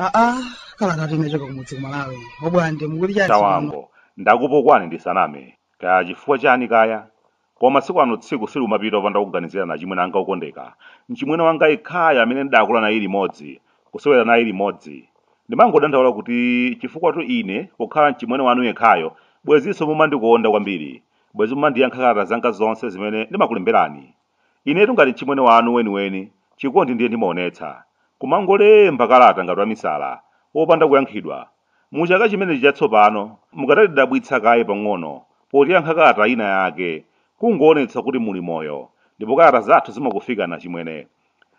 aa kalatatu inachoka kumudzi ku malawi obwande mukuti chani tawango ndakupukwani ndisaname kaya chifukwa chani kaya Koma masiku ano tsiku silikumapita opanda kukuganizilani acimwene anga okondeka. Mcimwene wanga yekhayo amene ndidakula naye limodzi, kusewera naye limodzi. Ndimangodandaula kuti cifukwatu ine pokhala mcimwene wanu yekhayo, bwezinso mumandikonda kwambiri. Bwezi mumandiyankha kalata zanga zonse zimene ndimakulemberani. Inetu ngati mcimwene wanu weniweni, cikondi ndiye ndimaonetsa. Kumangolemba kalata ngati wamisala, wopanda kuyankhidwa, Mu Chaka chimenechi Chatsopano, mukadatidabwitsa kaye pang'ono potiyankha kalata ina yake, kungoonetsa kuti muli moyo, ndipo kalata zathu zimakufikani achimwene.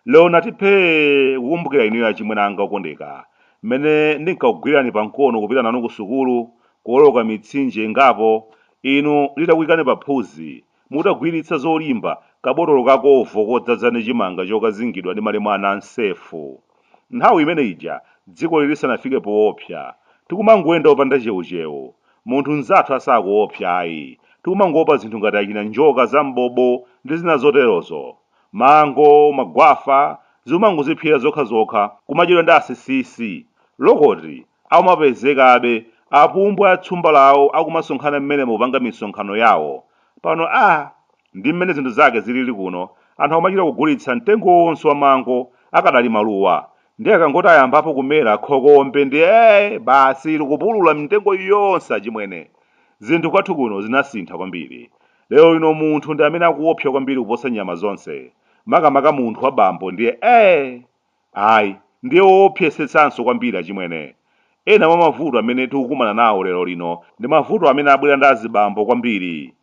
Lero ndati phee kukumbukira inuyo achimwene anga okondeka, m'mene ndinkakugwirani pa mkono kupita nanu ku sukulu, kuoloka mitsinje ingapo, inu nditakuikani pa phuzi, Mutagwiritsa zolimba kabotolo ka Covo kodzadza ndi chimanga chokazingidwa ndi malemu a Nansefu. Nthawi imene ija dzikoli lisanafike poopsa. Tikumangoyenda opanda chewuchewu. Munthu mnzathu asakuopsa ayi. Tikumangoopa zinthu ngati achina njoka za mbobo ndi zina zoterozo. Mango, magwafa, zikumangozipsera zokhazokha, kumadyedwa ndi asisisi. Lokoti, Akumapezekabe, apumbwa atsumba lawo akumasonkhana mmenemo kupanga misonkhano yawo. Pano a. Ndi mmene zinthu zake ziliri kuno, anthu akumachita kugulitsa mtengo wonse wa mango akadali maluwa. Ndiye akangoti ayambapo kumera, khokombe ndiye, basi likupulula mitengo yonse achimwene. Zinthu kwathu kuno zinasintha kwambiri. Lerolino munthu ndi amene akuwopsa kwambiri kuposa nyama zonse. Makamaka munthu wa bambo ndiye. Ayi, ndiye woopsesetsanso kwambiri achimwene. Ena mwa mavuto amene tikukumana nawo lero lino ndi mavuto amene abwera ndi azibambo kwambiri.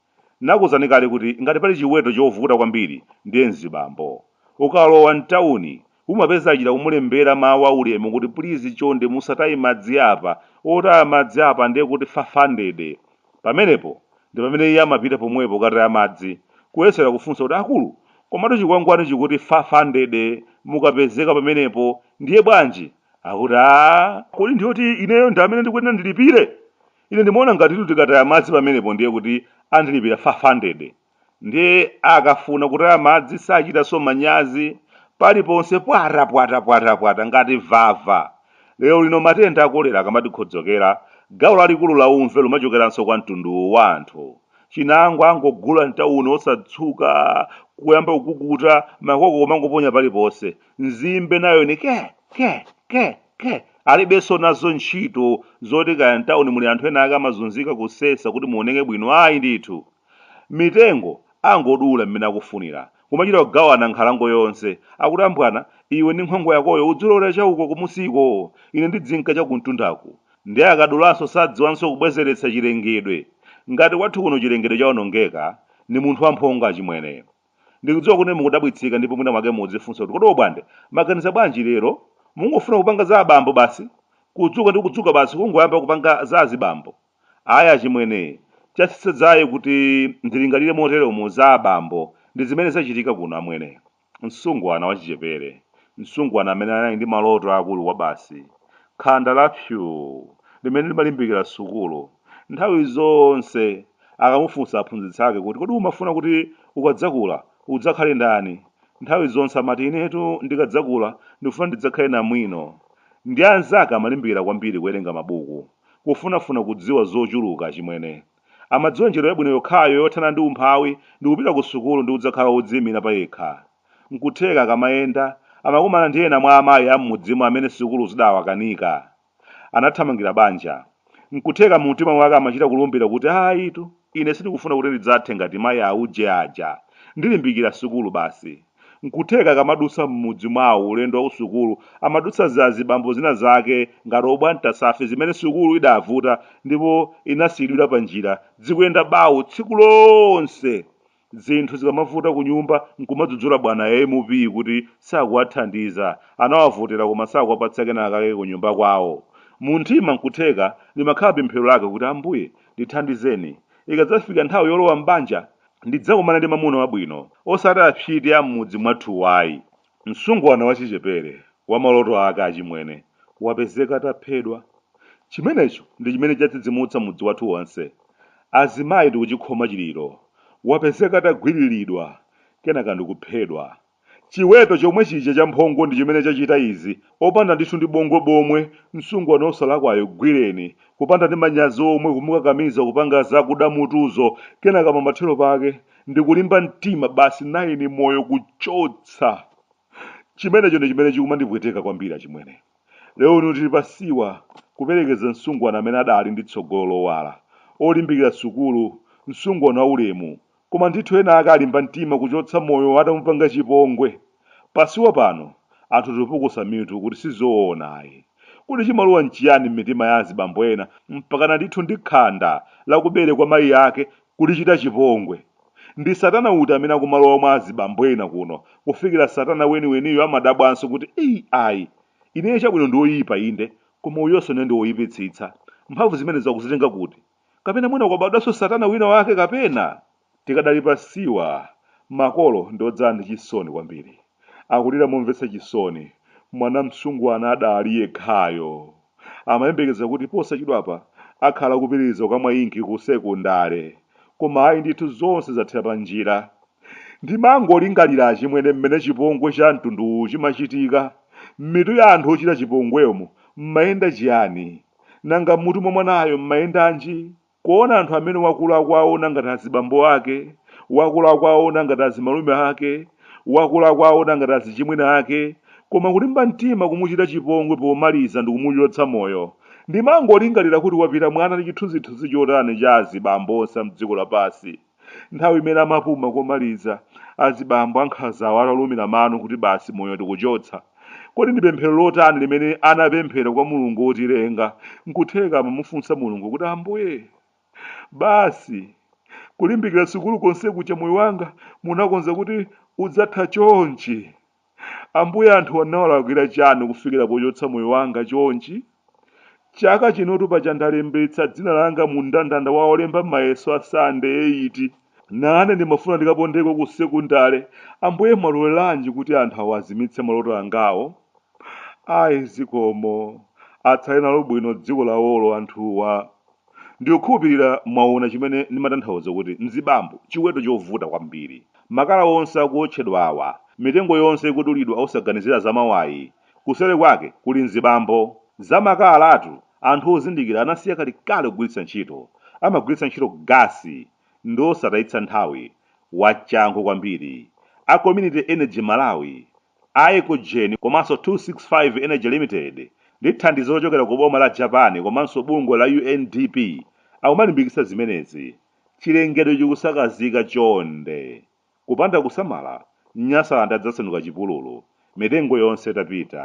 N'nakuuzani kale kuti ngati pali chiweto chovuta kwambiri ndiye mzibambo. Ukalowa m'tauni, umapeza achita kumulembera mawu aulemu kuti pulizi chonde musataye madzi apa, otaya madzi apa ndiye kuti five hundred, Pamenepo ndi pamene iye amapita pomwepo kukataya madzi, kuyesera kufunsa kuti, Akulu, komatu chikwangwani chikuti five hundred mukapezeka pamenepo, ndiye bwanji? Akuti, Aaa! Kodi ndi yoti ineyo ndi amene ndikuyenera ndilipire? Ine ndimaona ngatitu tikataya madzi pamenepo ndiye kuti andilipira five hundred. Ndiye akafuna kutaya madzi sachitanso manyazi, paliponse pwata pwata pwata pwata ngati vava. Lero lino matenda a kolera akamadikhodzokera, gawo lalikulu la umve lumachokeranso kwa mtundu uwu wa anthu. Chinangwa angogula m'tauni osatsuka, kuyamba kukukuta, makoko kumangoponya paliponse. Nzimbe nayo ni ke! ke! ke! ke! Alibenso nazo ntchito zoti kaya m'tauni muli anthu enaake amazunzika kusesa kuti muoneke bwino, ayi ndithu. Mitengo angodula mmene akufunira, kumachita kugawana nkhalango yonse. Akuti, Ambwana, iwe ndi nkhwangwa yakoyo udzilowera cha uko kumusiko, ine ndidzinka cha kumtundaku. Ndiye akadulanso sadziwanso kubwezeretsa chilengedwe. Ngati kwathu kuno chilengedwe chawonongeka, ni munthu wamphongo achimwene. Ndikudziwa kuti mukudabwitsika ndipo mwina mwake mukudzifunsa kuti, Kodi Obwande, maganiza bwanji lero? Mungofuna kupanga za abambo basi? Kudzuka ndi kudzuka basi kungoyamba kupanga za azibambo. Ayi achimwene, chatsitsa dzaye kuti ndilingalire moteromo za abambo ndi zimene zachitika kuno amwene. Msungwana wachichepere, msungwana amene anali ndi maloto aakulu kwabasi, khanda la psyu limene limalimbikira sukulu, nthawi zonse akamufunsa aphunzitsi ake kuti, Kodi umafuna kuti ukadzakula udzakhale ndani? nthawi zonse amati, Inetu ndikadzakula ndikufuna ndidzakhale namwino. Ndi anzake amalimbikira kwambiri kuwerenga mabuku. kufunafuna kudziwa zochuluka, achimwene. Amadziwa njira yabwino yokhayo yothana ndi umphawi ndi kupita ku sukulu ndi kudzakhala wodziimira payekha. Nkutheka akamayenda, amakumana ndi ena mwa amayi a m'mudzimo amene sukulu zidawakanika. Anathamangira banja. Nkutheka mu mtima mwake amachita kulumbira kuti, Ayitu, ine sindikufuna kuti ndidzathe ngati mayi auje aja. Ndilimbikira sukulu basi. Nkutheka akamadutsa mmudzi mwawo ulendo wakusukulu amadutsa zazibambo zina zake ngati obwana Mtasafe zimene sukulu idavuta ndipo inasiyidwira panjira dzikuyenda bawu tsiku lonse zinthu zikamavuta kunyumba nkumadzudzula bwana MP kuti sakuwathandiza anawavotera koma sakuwapatsa kenakake kunyumba kwawo mumtima nkutheka limakhala pemphero lake kuti Ambuye ndithandizeni ikadzafika nthawi yolowa mbanja ndidzakumane ndi mamuna wabwino, osati apsyiti a mmudzi mwathuwa ayi. Msungwana wachichepere, wa maloto ake achimwene, wapezeka ataphedwa. Chimenecho ndi chimene chadzidzimutsa mudzi wathu wonse. Azimayi tikuchikhoma chiliro. Wapezeka atagwiriridwa, kenaka ndikuphedwa. Chiweto chomwe chija chachimphongo ndi chimene chachita izi, opanda ndithu ndi bongwe bomwe, msungwana osalakwayo gwireni, kupanda ndi manyazi omwe kumukakamiza kupanga za kuda mutuzo, kenaka pamathero pake ndi kulimba mtima basi nayeni moyo kuchotsa. Chimenecho ndi chimene chikumandipweteka kwambiri achimwene. Lero lino tili pa siwa kuperekeza msungwana amene adaali ndi tsogolo lowala, olimbikira sukulu, msungwana wa ulemu, Koma ndithu ena ake alimba mtima kuchotsa moyo atamupanga chipongwe. Pa siwa pano, anthu tipukusa mitu kuti si zoona ayi. Kodi chimalowa n'chiyani m'mitima ya azibambo ena mpakana ndithu ndi khanda la kubere kwa mayi ake kulichita chipongwe? Ndi satana uti amene akumalowa mwa azibambo ena kuno kufikira satana weniweniyo amadabwanso kuti ei ayi, ineyo chabwino ndi woyipa inde, koma uyonso naye ndi woyipitsitsa. Mphamvu zimenezo akuzitenga kuti? kapena mwina kwabadwanso satana wina wake kapena tikadali pa siwa makolo ndi odzala ndi chisoni kwambiri akulira momvetsa chisoni mwana msungwana adali yekhayo amayembekeza kuti posachedwapa akhala kupitiriza kukamwa inki ku sekondale koma ayi ndithu zonse zathera pa njira ndimangolingalira achimwene mmene chipongwe cha mtunduwu chimachitika m'mitu ya anthu ochita chipongwemo mmayenda chiyani Nanga m'mutu mwa mwanayo m'mayendanji? Kuona anthu amene wakula akuwaona ngati azibambo ake, wakula akuwaona ngati azimalume ake, wakula akuwaona ngati azichimwene ake, koma kulimba mtima kumuchita chipongwe pomaliza ndikumuchotsa moyo. Ndimangolingalira kuti wapita mwana ndi chithunzithunzi chotani cha azibambo onse a m'dziko lapansi. Nthawi imene amapuma komaliza, azibambo ankhanzawo atalumira mano kuti basi moyo tikuchotsa, kodi ndi pemphero lotani limene anapemphera kwa Mulungu wotilenga? N'kutheka amamufunsa Mulungu kuti, Ambuye, basi kulimbikira sukulu konse kuja moyo wanga munakonza kuti udzatha chonchi? Ambuye anthuwa ndinawalakwira chani kufikira pochotsa moyo wanga chonchi? Chaka chinotu paja ndalembetsa dzina langa mu mndandanda wa olemba mayeso a Sitandade eyiti. Nane ndimafuna ndikapondeko ku sekondale. Ambuye mwaloleranji kuti anthu awa azimitse maloto angawo? Ayi zikomo. Atsale nalo bwino dziko lawolo anthuwa. Ndikukhulupirira mwaona chimene ndimatanthauza kuti mzibambo, chiweto chovuta kwambiri. Makala onse akuotchedwawa, mitengo yonse ikudulidwa osaganizira za mawayi, kuseri kwake kuli mzibambo. Za makalatu, anthu ozindikira anasiya kalekale kugwiritsa ntchito. Amagwiritsa ntchito gasi. Ndiosatayitsa nthawi. Wachangu kwambiri. A Community Energy Malawi A Ecogen komanso 265 Energy Limited ndi thandizo lochokera ku boma la Japan komanso bungwe la UNDP akumalimbikitsa zimenezi. Chilengedwe chikusakazika chonde. Kupanda kusamala, Nyasaland adzasanduka chipululu. Mitengo yonse itapita,